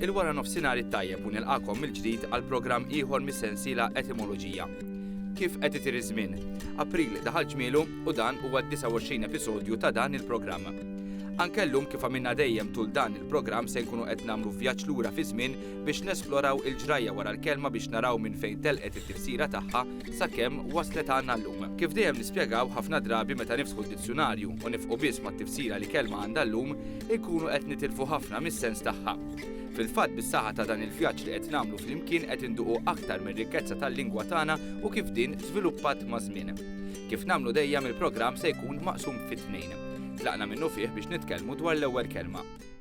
Il-wara nofsinhar it-tajjeb u nilqakom mill-ġdid għal programm ieħor mis-sensiela Etimoloġija. Kif qed itir iż-żmien? April daħal ġmielu u dan huwa d-29 episodju ta' dan il-programm. Anke llum kif għamilna dejjem tul dan il-programm se nkunu qed nagħmlu vjaġġ lura fi żmien biex nesploraw il-ġrajja wara l-kelma biex naraw minn fejn telqet it-tifsira tagħha sakemm waslet għandna llum. Kif dejjem nispjegaw, ħafna drabi meta niftħu d-dizzjunarju u nifqu biss mat-tifsira li kelma għandha llum, inkunu qed nitilfu ħafna mis-sens tagħha. Fil-fatt bis-saħħa ta' dan il-vjaġġ li qed nagħmlu flimkien qed induqu aktar mir-rikkezza tal-lingwa tagħna u kif din żviluppat maż-żmien. Kif nagħmlu dejjem il-programm se jkun maqsum fi tnejn. Tlaqna minnu fih biex nitkellmu dwar l-ewwel kelma.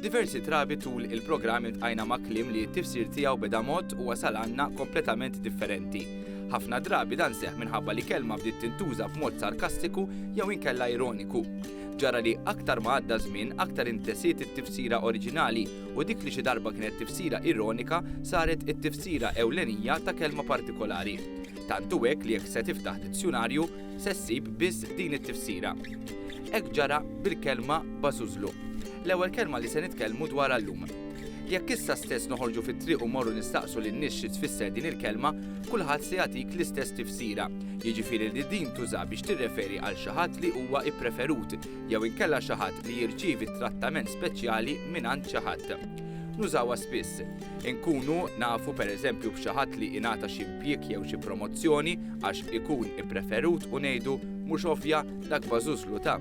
Diversi drabi tul il-programm intqajna ma' kliem li t-tifsir tiegħu beda mod u wasal għandna kompletament differenti. Ħafna drabi dan seħħ minħabba li kelma bdiet tintuża f'mod sarkastiku jew inkella ironiku. Ġara li aktar ma għadda żmien aktar intesiet it-tifsira oriġinali u dik li xi darba kienet tifsira ironika saret it-tifsira ewlenija ta' kelma partikolari. Tant hu hekk li jekk se tiftaħ dizzjunarju, se ssib biss din it-tifsira. Hekk ġara bil-kelma bażużlu, l-ewwel kelma li se nitkellmu dwarha llum. Jekk issa stess noħorġu fit-triq u mmorru nistaqsu lin-nies xi tfisser din il-kelma, kulħadd se jagħtik l-istess tifsira, jiġifieri li din tuża biex tirreferi għal xi ħadd li huwa ppreferut jew inkella xi ħadd li jirċievi trattament speċjali mingħand xi ħadd. Nużawha spiss. Inkunu nafu pereżempju b'xi ħadd li ingħata xi impjieg jew xi promozzjoni għax ikun ippreferut u ngħidu, mhux ovvja, dak bażużlu ta.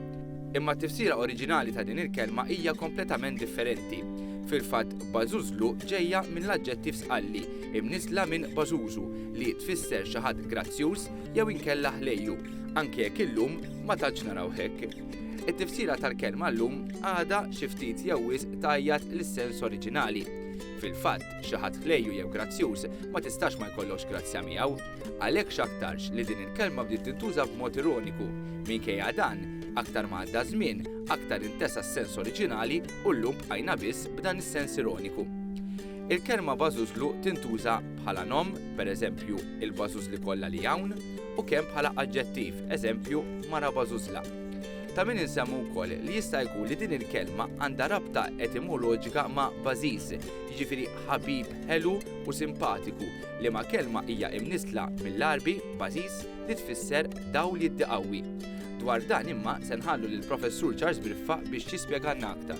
Imma t-tifsira oriġinali ta' din il-kelma hija kompletament differenti. Fil-fatt, bażużlu ġejja minn l-aġġettiv sqalli, imniżżla minn bażużu, li tfisser xi ħadd grazzjuż jew inkella ħlejju, anke jekk illum ma tantx narawh hekk. It-tifsira tal-kelma llum għada xi ftit jew wisq tajjat l-sens oriġinali. Fil-fatt, xi ħadd ħlejju jew grazzjuż ma tistax ma jkollokx grazzja miegħu. Għalhekk x'aktarx li din il-kelma bdiet tintuża b'mod ironiku. Minkejja dan, aktar ma għadda żmien, aktar intesa s-sens oriġinali u llum bqajna biss b'dan is-sens ironiku. Il-kelma bażużlu tintuża bħala nom, pereżempju, il-bażużli kollha li hawn, u kemm bħala aġġettiv, eżempju, mara bażużla. Ta' min insemmu wkoll li jista' jkun li din il-kelma għandha rabta etimoloġika ma' bażiż, jiġifieri ħabib ħelu u simpatiku, liema kelma hija imnissla mill-Għarbi bażiż li tfisser dawl jiddi qawwi. Dwar dan imma se nħallu lill-Professur Charles Briffa biex jispjegalna aktar.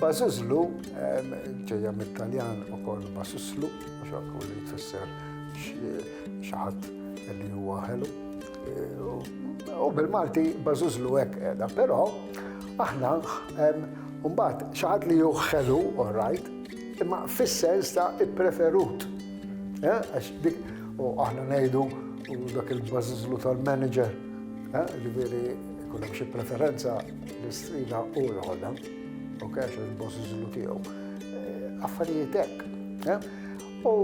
Bażiżlu, ġejja mit-Taljan ukoll basuslu, mhux hekk hu li jfisser xi ħadd li huwa ħelu. U bil-Malti bażiżlu hekk qiegħda, però aħna mbagħad xi ħadd li hu ħelu, all right, imma fis-sens ta' ippreferut. Għax dik u aħna ngħidu dak il-bażiżlu tal-manager. Ġifieri jkun hemm xi preferenza li strina u l-ħoda, ok, għax il-boss iżlu tiegħu. Affarijiet hekk. U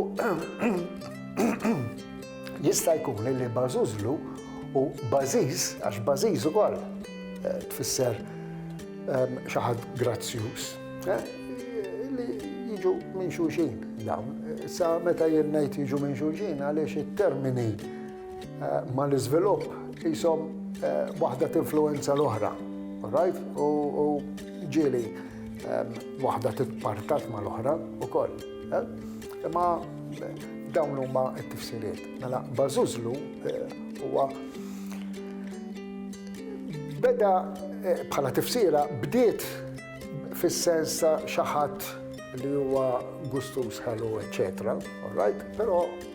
jista' jkun li bażużlu u bażiż, għax bażiż ukoll eh, tfisser ehm, xi ħadd grazzjuż, eh, li jiġu minn xulxin dawn. Sa meta jien ngħid jiġu minn xulxin għaliex it-termini Mal-iżvilupp qishom waħda tinfluwenza l-oħra, alright? U ġieli waħda titpartat mal-oħra wkoll. Imma dawn huma t-tifsiriet. Mela Bażużlu huwa beda bħala tifsira bdiet fis-sens ta' xi ħadd li huwa gustuż ħelu, eċċetera, alright? Però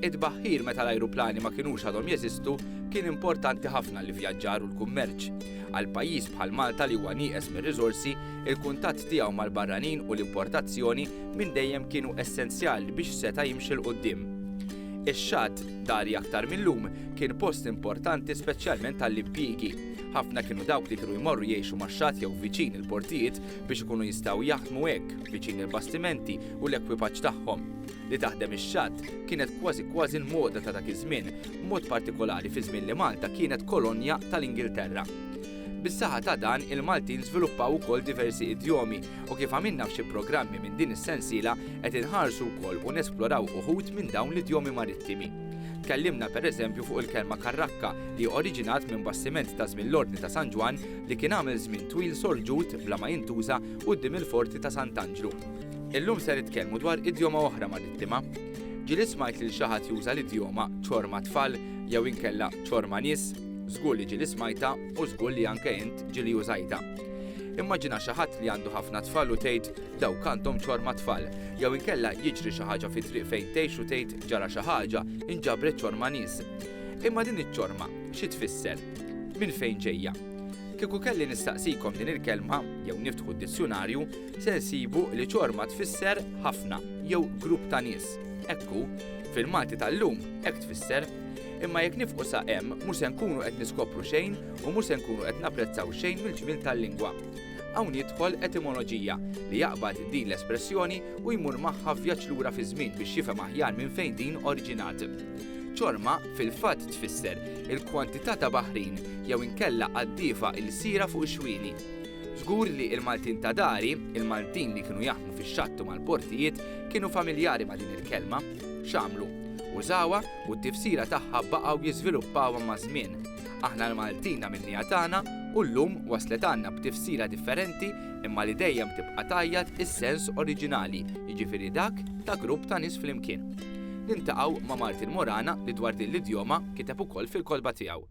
It-tbaħħir meta l-ajruplani ma kinux għadhom jeżistu kien importanti ħafna għall-ivvjaġġar u l-kummerċ. Għal pajjiż bħal Malta li huwa nieqes mir-riżorsi, il-kuntatt tiegħu mal-barranin u l-importazzjoni minn dejjem kienu essenzjali biex seta' jimxi 'l quddiem. Ix-xatt, dari aktar mil-lum, kien post importanti speċjalment għall-impjiegi. Ħafna kienu dawk li kienu jmorru jgħixu max-xatt jew viċin il-portijiet biex ikunu jistgħu jaħdmu hekk viċin il-bastimenti u l-ekwipaġġ tagħhom. li taħdem ix-xatt kienet kważi kważi l-moda ta' dak iż-żmien, b'mod partikolari fi żmien li Malta kienet kolonja tal-Ingilterra. Bis-saħħa ta' dan, il-Maltin żviluppaw ukoll diversi idjomi u kif għamilna f'xi programmi minn din is-sensiela qed inħarsu wkoll u nesploraw uħud minn dawn l-idjomi marittimi. Tkellimna pereżempju fuq il-kelma karrakka li oriġinat minn bastiment ta' żmien l-Ordni ta' San Ġwann li kien għamel żmien twil sorġut bla ma jintuża quddiem il-Forti ta' Sant'Anġlu. Illum se nitkellmu dwar idjoma oħra marittima. Ġieli smajt lil xi ħadd juża l-idjoma ċorma tfal jew inkella ċorma nies, żgur li ġieli smajtha u żgur li anke int ġieli użajtha. Immaġina xi ħadd li għandu ħafna tfal u tgħid dawk għandhom ċorma tfal, jew inkella jiġri xi ħaġa fit-triq fejn tgħix u tgħid ġara xi ħaġa, inġabret ċorma nies. Imma din iċ-ċorma xi tfisser? Minn fejn ġejja? Kieku kelli nistaqsikom din il-kelma, jew niftħu d-dizzjunarju, se nsibu li ċorma tfisser ħafna jew grupp ta' nies. Hekk hu, fil-Malti tal-lum hekk tfisser. Imma jekk nifqu sa hemm mhux se nkunu qed niskopru xejn u mhux se nkunu qed napprezzaw xejn mill-ġmiel tal-lingwa. Hawn jidħol etimoloġija li jaqbad din l-espressjoni u jmur magħha vjaġġ lura fiż-żmien biex jifhem aħjar minn fejn din oriġinat. Ċorma fil-fatt tfisser il-kwantità ta' baħrin jew inkella qaddiefa ilsira fuq ix-xwieli. Żgur li il-Maltin ta' dari, il-Maltin li kienu jaħdmu fix-xatt u mal-portijiet, kienu familjari ma' din il-kelma. X'għamlu? Użawha u t-tifsira tagħha baqgħu jiżviluppawha maż-żmien. Aħna l-Maltin għamilniha tagħna u llum waslet għandna b'tifsira differenti imma li dejjem tibqa' tgħajjat is-sens oriġinali, jiġifieri dak ta' grupp ta' nies flimkien. Niltaqgħu ma' Martin Morana li dwar din l-idjoma kiteb ukoll fil-kotba tiegħu.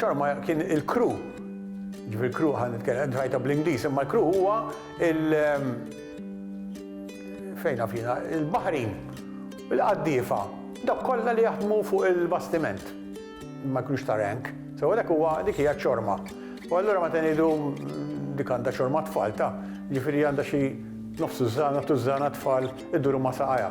Ċarma kien il-kru. Ġifir kru ħan nitkellem ħajta bl-Ingliż, imma l-kru huwa il- ehm, fejna fina, il-baħrin, il-qaddiefa, dak kollha li jaħdmu fuq il-bastiment. Ma jkunux ta' rank. So dak huwa dik hija ċorma. U allura meta ngħidu mm, dik għandha ċorma tfal ta' ġifieri għandha xi nofsu żana tużana tfal iduru ma' saqajha.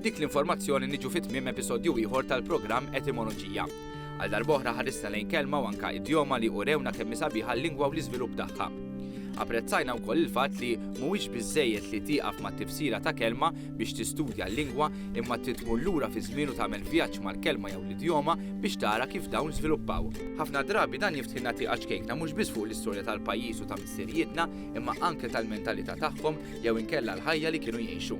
B'dik l-informazzjoni niġu fi tmiem episodju ieħor tal-programm Etimoloġija. Għal darb'oħra ħarisna lejn kelma u anka idjoma li urewna kemm sabiħa l-lingwa u l-iżvilupp tagħha. Apprezzajna wkoll il-fatt li mhuwiex biżejjed li tieqaf mat-tifsira ta' kelma biex tistudja l-lingwa imma trid tmur lura fi żmien u tagħmel vjaġġ mal-kelma jew l-idjoma biex tara kif dawn żviluppaw. Ħafna drabi dan jiftħilna tieqa ċkejkna mhux biss fuq l-istorja tal-pajjiż u ta' missirijietna imma anke tal-mentalità tagħhom jew inkella l-ħajja li kienu jgħixu.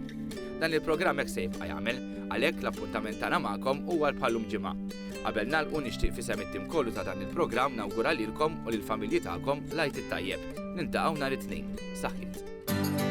Dan il-programm hekk se jibqa' jagħmel, għalhekk l-appuntament tagħna magħkom huwa bħallum ġimgħa. Qabel nagħlqu nixtieq fisem it-tim kollu ta' dan il-programm nawgura lilkom u lill-familji tagħkom l-Għid it-Tajjeb. Niltaqgħu nhar it-Tnejn. Saħħit.